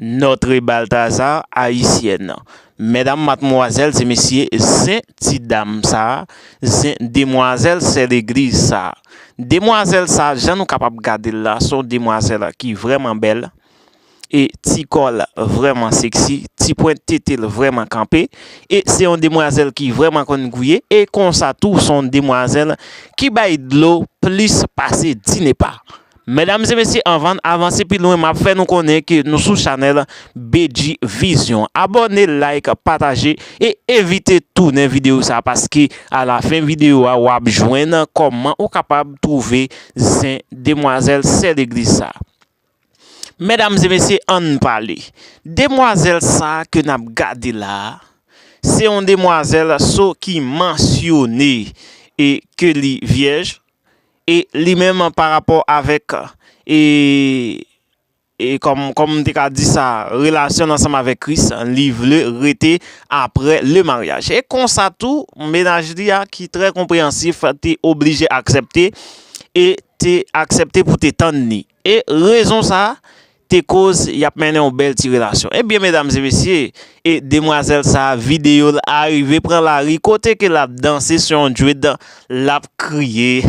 Notre Balthazar Haïtienne Medam matmwazèl se mesye Zen ti dam sa Zen demwazèl sè legliz sa Demwazèl sa jan nou kapab gade l la son demwazèl ki vrèman bèl E ti kò l vrèman seksi Ti pwent tete l vrèman kanpe E se yon demwazèl ki vrèman konn gouye E konsa tou son demwazèl ki bay dlo plis pase 10 nepa Medam e mesye anvann avanse pi lwen map fè nou konnen ke nou sou chanèl Bedjy Vision abòne like pataje e evite tounen video sa paske a la fen video a wap jwenn kòman ou kapab twouve zen demwazèl sè legliz sa Medam e mesye ann pale demwazèl sa ke nap gade la se yon demwazèl so ki mansyone e ke li vyèj E li menm pa rapò avèk e, e kòm, kòm m te ka di sa, relasyon l ansanm avèk Kris, li vle rete apre le maryaj. E konsa tou, mennaj li a ki trè konpreyansif te oblije aksepte e te aksepte pou te tann li. E rezon sa a te koz y ap mennen yon bèl ti relasyon. Ebyen medam e mesye, e demwazèl sa a videyo l arive pran lari kote ke l ap danse sou yon djwid, l ap kriye,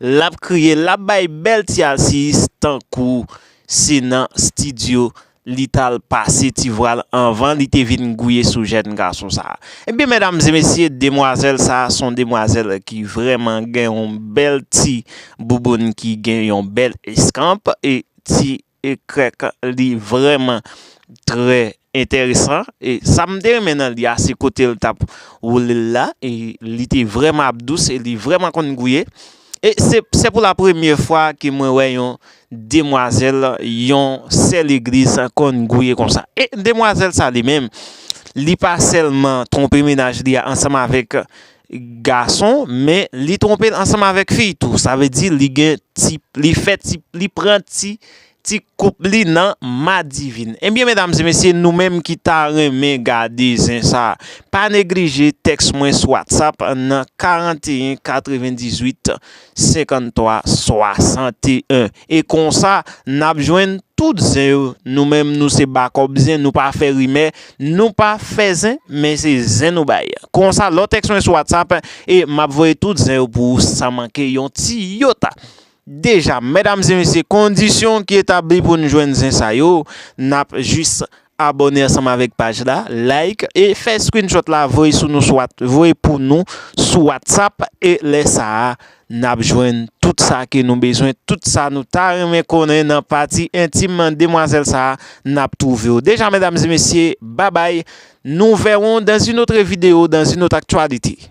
l ap kriye, l ap bay bèl ti alsiyis tankou se nan stidyo li t al pase ti vwa l anvan li te vin gouye sou jèn gason sa a. Ebyen medamzemesye demwazèl sa a s on demwazèl ki vrèman gen yon bèl ti bouboun ki gen yon bèl eskanp e ti krèk li vrèman trè enteresan e sa m te renmen nan li a se kote l t ap woule l la e li te vrèman ap dous e li vrèman konn gouye e se pou lapremye fwa ke mwen wè yon demwazèl yon sè legliz konn gouye konsa e demwazèl sa li menm li pa sèlman twonpe menaj li a ansanm avèk gason men li twonpel ansanm avèk fi tou sa vle di li gen ti li fè ti li pran ti ti koup li nan madivin ebyen medam e mesye nou menm ki ta renmen gade zen sa pa neglije tèks mwen sou whatsapp nan 41 98. 53, 61 e konsa nap jwenn tout zen yo nou menm nou se bakòp zen nou pa fè rimè nou pa fè zen men se zen nou bay konsa lò tèks mwen sou whatsapp e map voye tout zen yo pou ou san manke yon ti yota deja mèdames e mesye kondisyon ki etabli pou nou jwenn zen sa yo nap jis Abòne ansanm avèk paj la, like e fè screenshot la voye sou nou sou voye pou nou sou whatsapp e lè sa a nap jwenn tout sa ke nou bezwen tout sa nou ta renmen konnen nan pati entim demwazèl sa a nap twouvew deja medam e mesye babay nou vèron dans un autre video dans un autre actualite.